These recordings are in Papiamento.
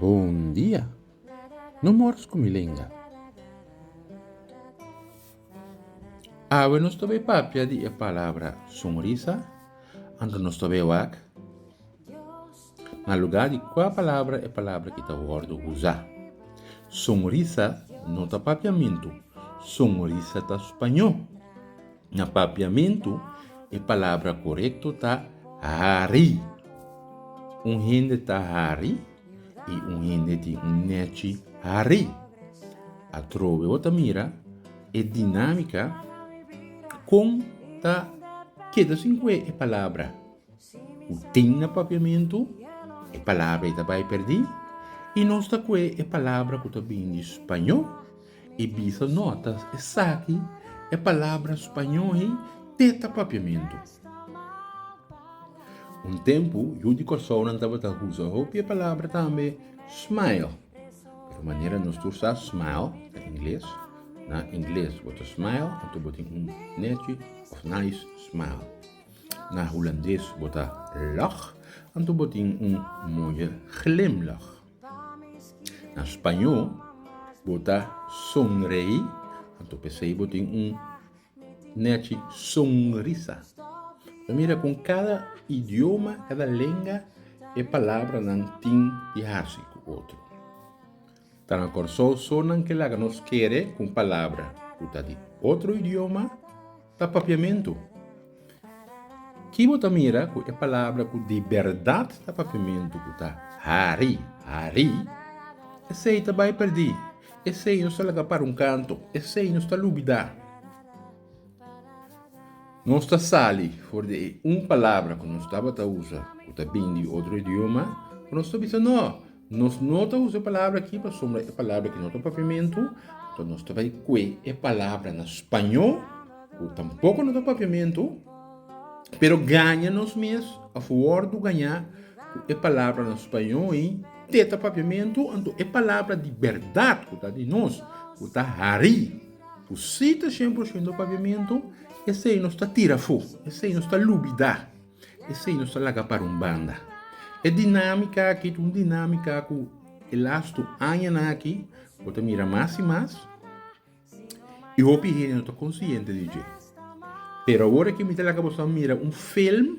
Bondia! No mors ku mi lenga. Awe nos ta bay papia di e palabra sonrisa, anto nos ta bay wak. Na lugá di kua palabra e palabra ki ta wòrdu usá? Sonrisa no ta papiamentu, sonrisa ta spañó. Na papiamentu e palabra korekto ta hari. Un hende ta hari i un hende tin un nèchi hari. Atrobe bo ta mira e dinámika kon ta keda sin kue e palabra. Ku tin na papiamentu, e palabra ei ta bai perdí, i nos ta kue e palabra ku ta bini di spañó i bisa notas esaki e palabra spañó ei te ta papiamentu. Un tempu yu di Kòrsounan tabata usa hopi e palabra tambe smile, pero manera nos tur sa smile na ingles, na ingles bo ta smile anto bo tin un nèchi òf nice smile. Na Hulandes bo ta lach, anto bo tin un moye glimlach. Na Spañó bo ta sonrei, anto p'esei bo tin un nechi sonrisa. Bo mira con cada idioma, cada lenga, e palabranan tin di hasi cu otro. Ta na Kòrsou so nan ke laga nos kere ku un palabra ku ta di otro idioma ta papiamentu. Ki bo ta mira ku e palabra ku di bèrdat ta papiamentu ku ta hari, hari, esei ta bai pèrdí, esei nos ta laga para un kantu, esei nos ta lubidá. Nos ta sali for di e un palabra ku nos tabata usa ku ta bini di otro idioma ku nos ta bisa no, nos no ta usa e palabra aki pasobra e palabra aki no ta papiamentu, nto nos ta bai kue e palabra na spañó ku tampoko no ta papiamentu, pero gaña nos mes a fuwor di gaña ku e palabra na spañó ei te ta papiamentu, anto e palabra di bèrdat ku ta di nos ku ta hari. Ku si ta shember oshiendo pabiamentu, esei nos ta tira afó, esei nos ta lubidá, esei nos ta laga para un banda. E dinámika akí ta un dinámika ku e lastu añanan akí bo ta mira mas i mas i hopi hende no ta konsiente di dje. Pero awor akí mi ta laga boso a mira un film.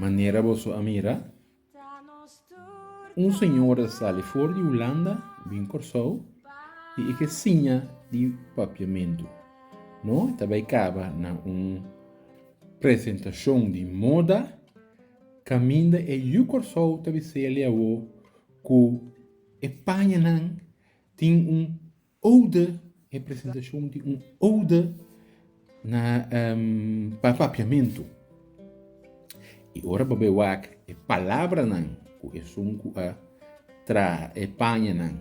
Manera boso a mira, un señora sali for di Hulanda bin Kòrsou i e ke siña di papiamentu. No, e ta bai kaba na un presentashon di moda kaminda e yu Kòrsou ta bise'e lei awor ku e pañanan tin un Ode, e presentashon di un ode na pa papiamentu. I ora bo bai wak e palabranan ku esun ku a traha e pañanan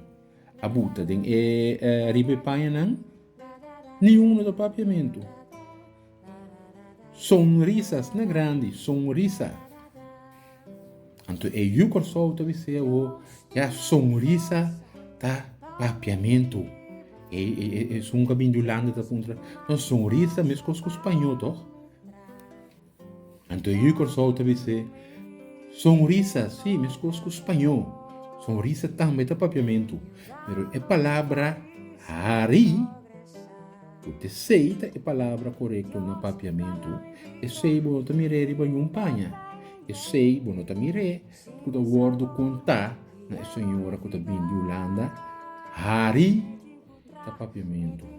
a buta den e riba e pañanan, niun no ta papiamentu. Sonrisa, sna grandi, sonrisa. Anto e yu Kòrsou ta bis'é awo, ya sonrisa ta papiamentu. E, e, e, e sun ka bin di Hulanda ta puntra, no, sonrisa meskos ku spañó, tòg? Anto e yu Kòrsou ta bis'é, Sonrisa, sí, meskos ku spañó, sonrisa tambe ta papiamentu. Pero e palabra hari, ku te sei ta e palabra korekto na papiamentu, esei bo no ta mir'é riba niun paña. Esei bo no ta mir'é ku ta wòrdu kontá na e señora ku ta bini di Hulanda, hari ta papiamentu.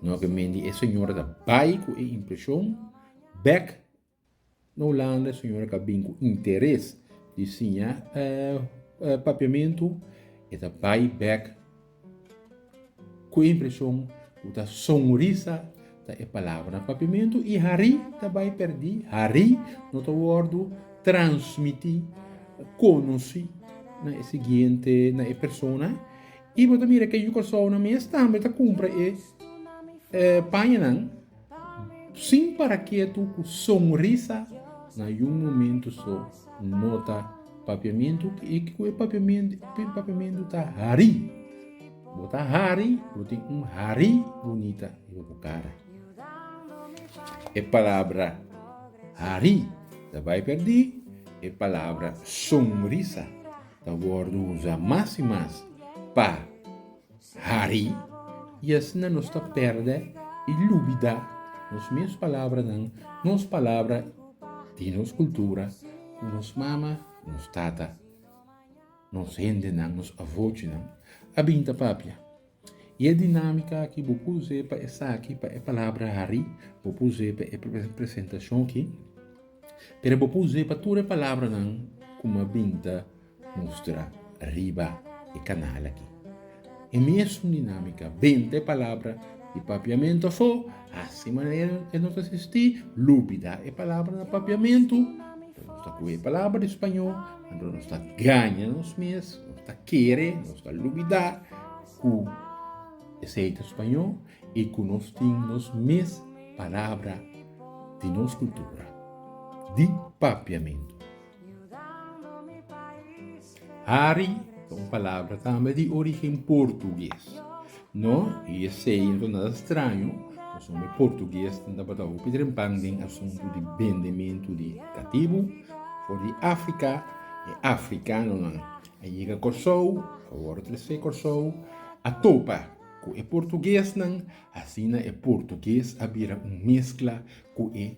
No ke men di e señora ta bai ku e impreshon bek na Hulanda, e señora ka bin ku interes di siña papiamentu, e ta bai bek ku e impreshon ku ta sonrisa ta e palabra na papiamentu i hari ta bai perdí, hari no ta wòrdu transmití, konosí na e siguiente, na e persona. Y bo ta mira ke yu Cursaonan mes tambe ta cumpra e pañanan sin para ketu cu sonrisa na yu momento so nota papiamentu y ke cu e papiamentu ta hari. Bo ta hari, bo tin un hari bunita riba bo cara. E palabra hari ta bay perdi, e palabra sonrisa Ta wòrdu usa mas i mas pa hari i asina nos ta pèrdè i lubidá nos mes palabranan, nos palabra di nos kultura ku nos mama, nos tata, nos hendenan, nos avochinan a bin ta papia. I e dinámika aki bo por us'é pa esaki, pa e palabra hari, bo por us'é pa e presentashon aki, pero bo por us'é pa tur e palabranan ku mi a bin ta mustra riba e kanal aki. E mesun dinámika, benta e palabra di papiamentu afó. Así manera ke nos ta sisti lubidá e palabra na papiamentu, anto nos ta kohe e palabra di spañó, anto nos ta gaña nos mes, nos ta kere, nos ta lubidá ku esei ta spañó i ku nos tin nos mes palabra di nos kultura di papiamentu. Hari ta un palabra tambe di origen portugues, no i esey no ta nada straño nos hombre portugues tin tabata hopi drempan den asuntu di bendementu di catibu for di Africa, e africanonan a yega Corsou, a wor trese Corsou, a topa cu e portuguesnan asina e portugues a bira un mezcla cu e.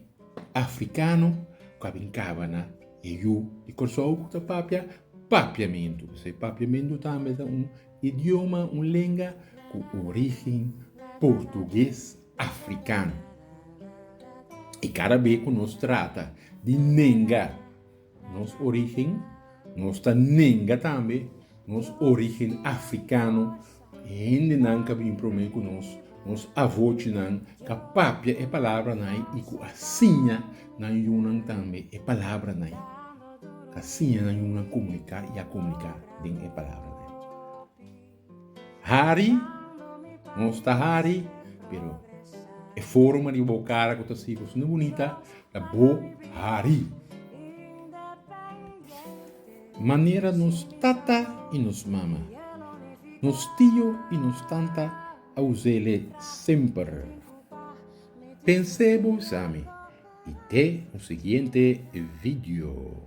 afrikano ku a bin kaba na e yu di Kòrsou ku ta papia papiamentu. So e papiamentu tambe ta un idioma, un lenga ku origen portuges afrikano. I kada be ku nos trata di nenga. Nos origen, nos ta nenga tambe nos origen africano, e hendenan ka bin prome cu nos, nos avochinan ka papia e palabranan y cu a siña nan yunan tambe e palabranan, a siña nan yunan comunica y a comunica den e palabranan. Hari, nos ta hari, pero e forma di bo cara cu ta sico asina bunita ta bo hari. Manera nos tata y nos mama, nos tio y nos tanta a usele semper. Pensebo esami y te un siguiente video.